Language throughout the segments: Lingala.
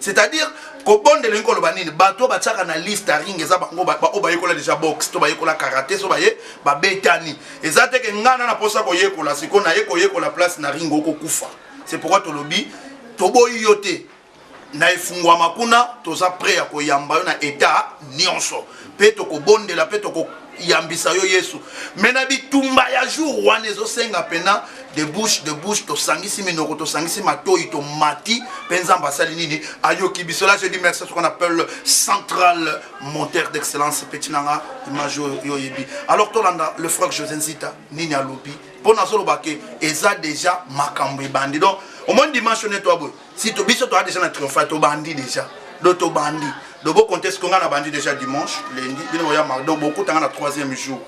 c'est-à-dire kobondela elingi koloba nini bato oyo batiaka na liste ya ring eza bango oyo bayekola deja boxe to bayekola karate so baye babetani eza te ke ngai na naposa koyekola sikoyo naye koyekola place na ring okokufa c'est pourquoi tolobi toboyi yo te na efungwama kuna toza prêt ya koyamba yo na etat nyonso mpe tokobondela mpe tokoyambisa yo yesu me na bitumba ya jour wana ezosenga mpena de bouche de bouche tosangisi minoko tosangisi matoi tomati mpe nzambe asali nini ayoki biso la je dis merci ce qu'on appelle central monteur d'excellence petit nanga image oyo oyebi alors tolanda le frère josé nzita nini alobi mpo nazoloba ke eza déjà makambo ebandi donc omoni dimension netwa boye si to biso toa deja na triompha tobandi deja do tobandi do bokonte siko ngai nabandi deja dimanche lundi bino boya mardi donc bokutanga na troisième jour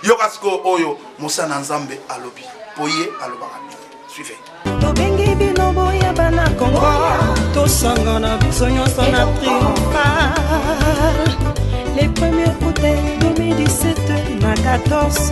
yoka sikoyo oyo mosala na nzambe alobi mpo ye alobaka bien suive tobengi bino boya bana kongo tosangana biso nyonso na triomphal le premier août 2017 na 14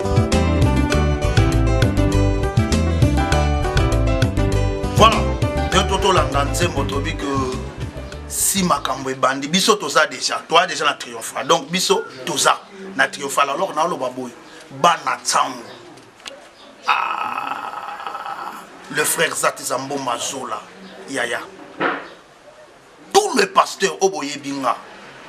Voilà, nde totolanda nzembo tobi ke si makambo ebandi biso toza déjà toa déjà na triomphal donc biso toza na triomphal alors naoloba boye bana ntango ah, le frère zatizamboma zola yaya tout le pasteur oyo boyebi nga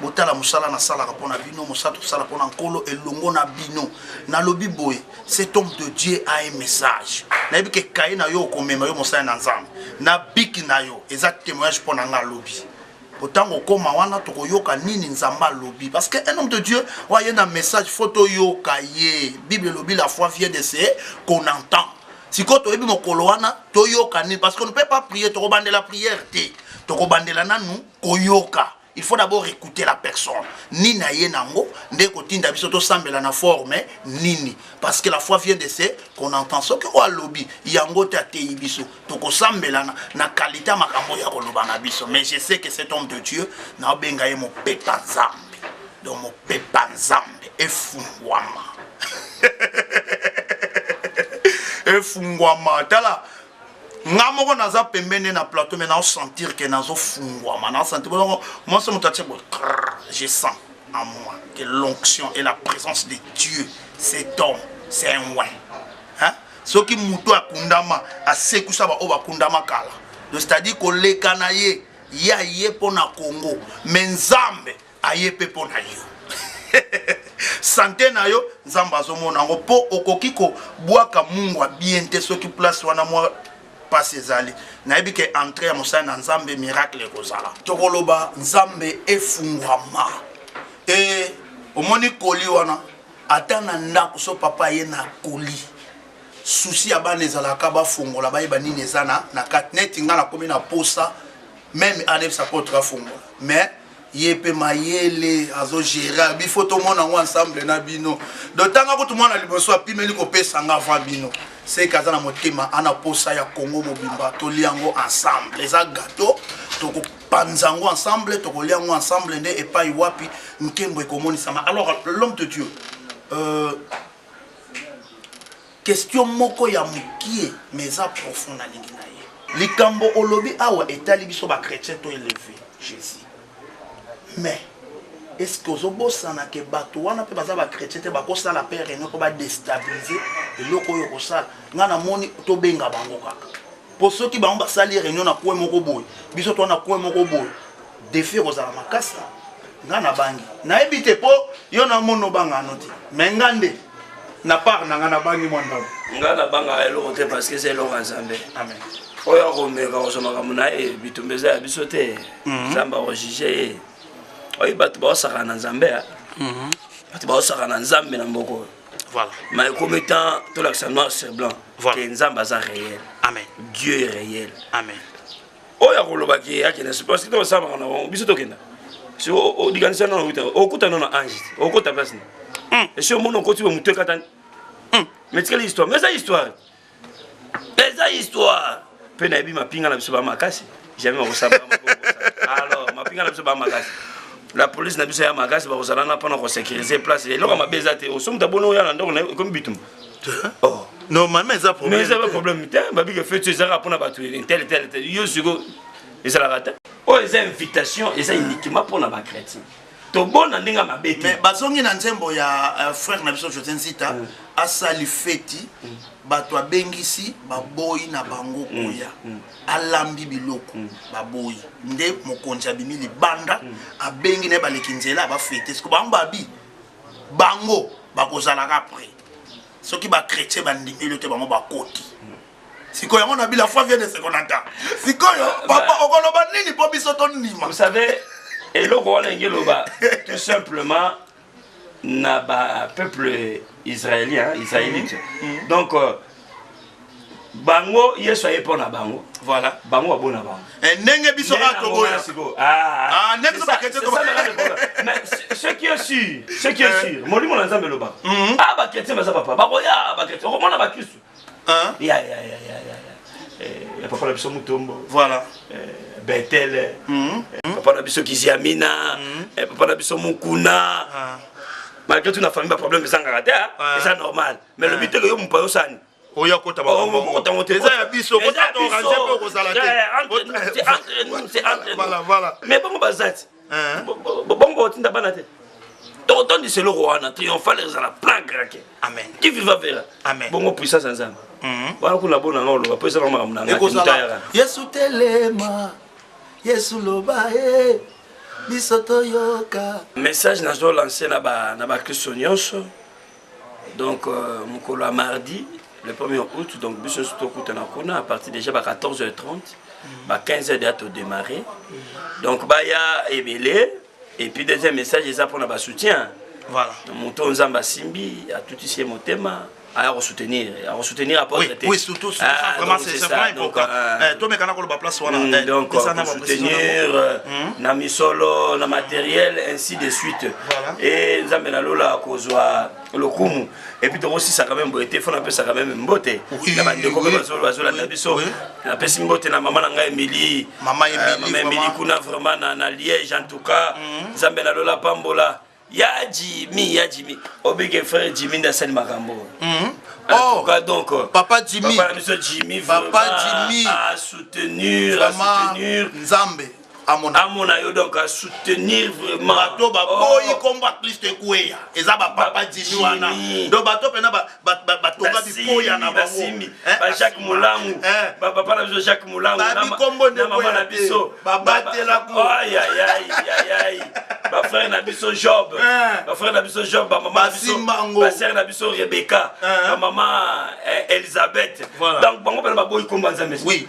botala mosala nasalaka mpo na bino mosala tosala mpo na nkolo elongo na bino nalobi boye cet homme de dieu a un message nayebi ke kaye na yo okomema yo mosali na nzambe na biki na yo eza témoignage mpo na nga alobi po ntango okoma wana tokoyoka nini nzambe alobi parce que un homme de dieu oyo aye na message fo toyoka ye bible elobi la foi vient de se qu'on entend sikoyo toyebi mokolo wana toyoka nini parce que ne peut pas prier tokobandela prière te tokobandela nanu koyoka il faut d'abord écouter la personne nini aye nango nde kotinda biso tosambela na forme nini parce que la foi vient de ce qu'on entend soki oyo alobi yango te ateyi biso tokosambela na, na qualité ya makambo ya koloba na biso mais je sais que cet homme de dieu naobenga ye mopepa nzambe donc mopepa nzambe efungwama efungwama tala nga moko naza pembeni na plateau me naosentir ke nazofungwama naosentir bongo mwasi moto atie bo je sens en moi que l'onction et la présence de dieu cet homme c'est un win hein? soki moto akundama asekusa baoyo bakundama kala donc c'est-à-dire koleka na ye ya ye mpo na congo me nzambe aye pe mpo na yo sante na yo nzambe azomona yango mpo okoki kobwaka mungwa bien te soki place wana mwa mpasi ezali nayebi ke entre ya mosali na nzambe miracle ekozala tokoloba nzambe efungwama e omoni koli wana ata na ndako so papa ye na koli susi ya bana ezalaka bafongola bayeba nini eza na kati neti ngai nakomi na posa meme anebisa kotika fongola mais ye pe mayele azo gere abi faut tomona yango ensemble na bino donc ntanga kutu mwana liboso apimeli kopesa nga avant bino seke aza na motema ana posa ya congo mobimba tolia yango ensemble eza gato tokopanza yango ensemble tokolia yango ensemble nde epai wapi nkembo ekomonisama alors l'homme de dieu euh, Question moko ya mukie mais eza profond nalingi na ye. Likambo olobi awa etali biso ba chretiens to eleve Jesus mais est ce que ozobosana ke bato wana mpe baza bachrétien te bakosala mpe réunion mpo badestabilize eloko oyo okosala ngai namoni tobenga bango kaka mpo soki bango basali réunion na kue moko boye biso toa na kue moko boye defi ekozala makasi nga nabangi nayebi te mpo yo na mono obanga ano te me nga nde na part na nga nabangi mwa ndambo nga nabangaka eloko te parce que eza eloko ya nzambe amen oyo akomeka kozwa makambo na ye bitumba eza ya biso te mhm. nzambe akojuge ye oyi bato baosaka na nzambe mhm. bato baosaka na nzambe na mboko voilà. mais ekomi temps tolakisa noir sur blanc voilà. ke nzambe aza réel amen dieu est réel amen oyo akoloba ke akende parce que osala makambo na bango biso tokenda si odikanisa nano okuta okuta nano ange te okota place na hmm. esi omona okoti bo motu ekatani hmm. mais tikali histoire mais eza histoire eza histoire mpe nayebi mapinga na biso ba makasi jamais bakosala alors mapinga na biso ba makasi la police na biso ya makasi bakozala na mpona kosecurise place eloko mabe eza te osomuta boni oya na ndako na yo ekomi bitumba oh. normalement eza problème mais eza ba problème te babi que fête ezaka pona batu tel tel tel yo siko ezalaka te oyo eza invitation eza uniquement pona ba chrétien tobona ndenge ya mabe te bazongi na nzembo ya euh, frère na biso josé nzita mm. asali feti mm. bato abengisi baboyi na bango mm. koya alambi biloko baboyi nde mokonzi abimi libanda abengi na ye baleki nzela bafete siko bango babi bango bakozalaka pre soki bachrétien bandimi yo te bango bakoti sikoyo yango na bila foi vient de sekonata sikoyo papa okoloba nini mpo biso tondima vous savez eloko wana enge loba tout simplement na ba peuple israélien israélite mm. mm. donc euh, bango yesu aye mpo na bango voilà bango babo na bango eh, ndenge biso a toboya sikoyo ah, ah. ah, ce qui est sûr ce qui est eh. sûr molimo na nzambe elobaka mhm. a bakretien baza papa bakoya bakretien okomona bakristu ya ya ya ya ya eh, papa na biso mutombo voilà betele mhm. papa na biso kiziamina mhm. papa na biso mukuna malgré tout na famille baproblème ezangaka te eza normal me lobi eh. teke yo mopa yo sani oya kota bakotango te eza ya biso kotata orange mpe okozala te mais bango baza ti eh. bongo otinda bana te tokotondisa eloko wana triomphale ezala plan grake amen ki viva vera amen bongo puissance ya nzambe mhm. wana kuna bona nga oloba mpo eza na makambo na ngatayaka yesu telema yesu loba e biso toyoka message nazolanse na bakristo nyonso donc euh, mokolo ya mardi le 1er août donc biso nyonso tokutana kuna à partir déjà ba 14 h 30 ba 15 h deya todémarre donc baya ebele et puis deuxième message eza mpona basoutien voilà. moto nzambe asimbi atutisi ye motema aya kosoutenir akosoutenir apôtre te oui surtout ah, vraiment c'est vraiment important euh, eh, tomekana koloba place wana mm, eh, donc kosoutenir euh, mm. na misolo na matériel ainsi de suite e nzambe na lola akozwa lokumu epuis tokosisa quand même boye te fo napesa quand même mbote na bandeko mpe bazolanda biso napesi mbote na mama na ngai emili mama euh, emili kuna vraiment na liège en tout cas mhm. nzambe na lola apambola ya jimi ya jimi obike frère jimi nde asali makambo oyo mhm. Oh, cas, donc, euh, papa Jimmy, papa, Jimmy, papa Jimmy a soutenir, vraiment, a soutenir Nzambe. amona amona yo donc a soutenir vraiment bato baboyi oh. kombo ya klisto ekweya eza bapapa jimi wana donc bato mpena batonga bikoya na bango bajacques eh, molangu eh, eh. bapapa na biso jacques molangu babikombo nde mama na biso babatela bafrère na biso job bafrère na biso job bamama basere na biso rebecca bamama elisabeth donc bango mpena baboyi kombo ya nzambe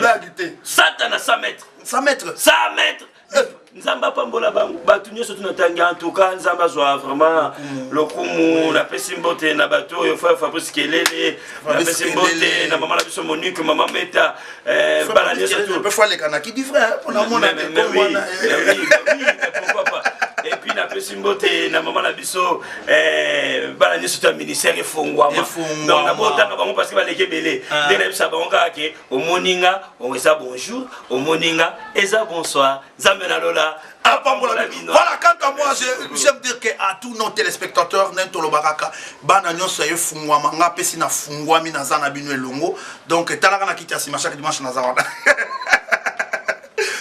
blague te satana 100 mètre 100 mètre 100 mètre eh. nzambe apambola bango bato nyonso tuna tangi en tout cas nzambe azwa vraiment lokumu napesi mbote na bato oyo fa fabrice kelele napesi mbote na mama na biso monique mama meta eh, bana nyonso pourquoi pas epuis napesi mbote na mama na biso biso eh, bana nyonso to ya ministère efongwama donc na botanga bango parce que baleki ebele ah. nde nayebisa bango kaka ke omoni nga eza bonjour omoni nga eza bonsoir nzambe na lola apambola ah, bino voilà kaka moi j'aime dire que à tous nos téléspectateurs nde tolobaka ka bana nyonso ya efungwama nga apesi na fungwami naza na bino elongo donc etalaka na kiti ya nsima chaque dimanche naza wana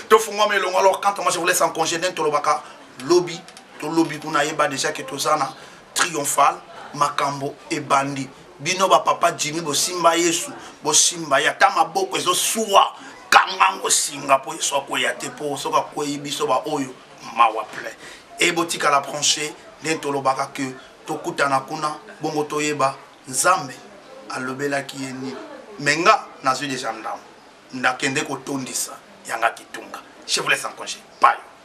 tofungwama elongo alors quand moi je vous laisse en congé nde tolobaka lobi to lobi kuna ayeba deja ke toza na triomphal makambo ebandi bino ba papa jimi bosimba yesu bosimba ye ata maboko ezosuwa kanga ngo singa mpo yesu akweya te mpo soki akwei biso baoyo mawa plein e botikala branche nde tolobaka ke tokutana kuna bongo toyeba nzambe alobelaki ye nini me nga nazwi deja ndambo ndakende kotondisa yanga kitunga je vous laisse en congé payo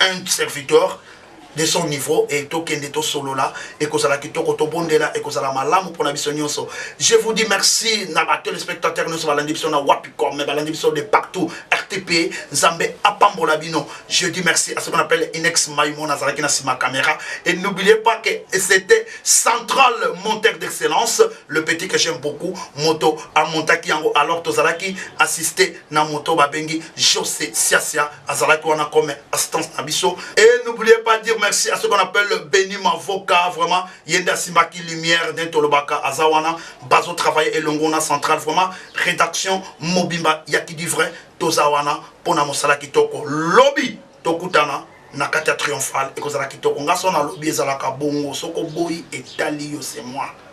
un serviteur de son niveau et tokende tosolola ekozala kitoko tobondela ekozala malamu mpona biso nyonso je vous dis merci na ba téléspectateurs nyonso balandi biso na wapicom mais balandi biso de partout rtp nzambe apambola bino je dis merci à ce qu'on appelle inex maimon azalaki na nsima caméra et n'oubliez pas que c'était central monteur d'excellence le petit que j'aime beaucoup moto amontaki yango alors tozalaki assisté na moto babengi jose siasia azalaki wana comme assistance na biso et n'oubliez pas dire merci à ce qu'on appelle le Benny Mavoka vraiment yende asimaki lumière nde tolobaka aza wana bazo travailler elongo na centrale vraiment rédaction mobimba ya kidi vrai toza wana mpo na mosala kitoko lobi tokutana na kati ya triomphale ekozala kitoko nga so nalobi ezalaka bongo soki oboyi etali yo se moi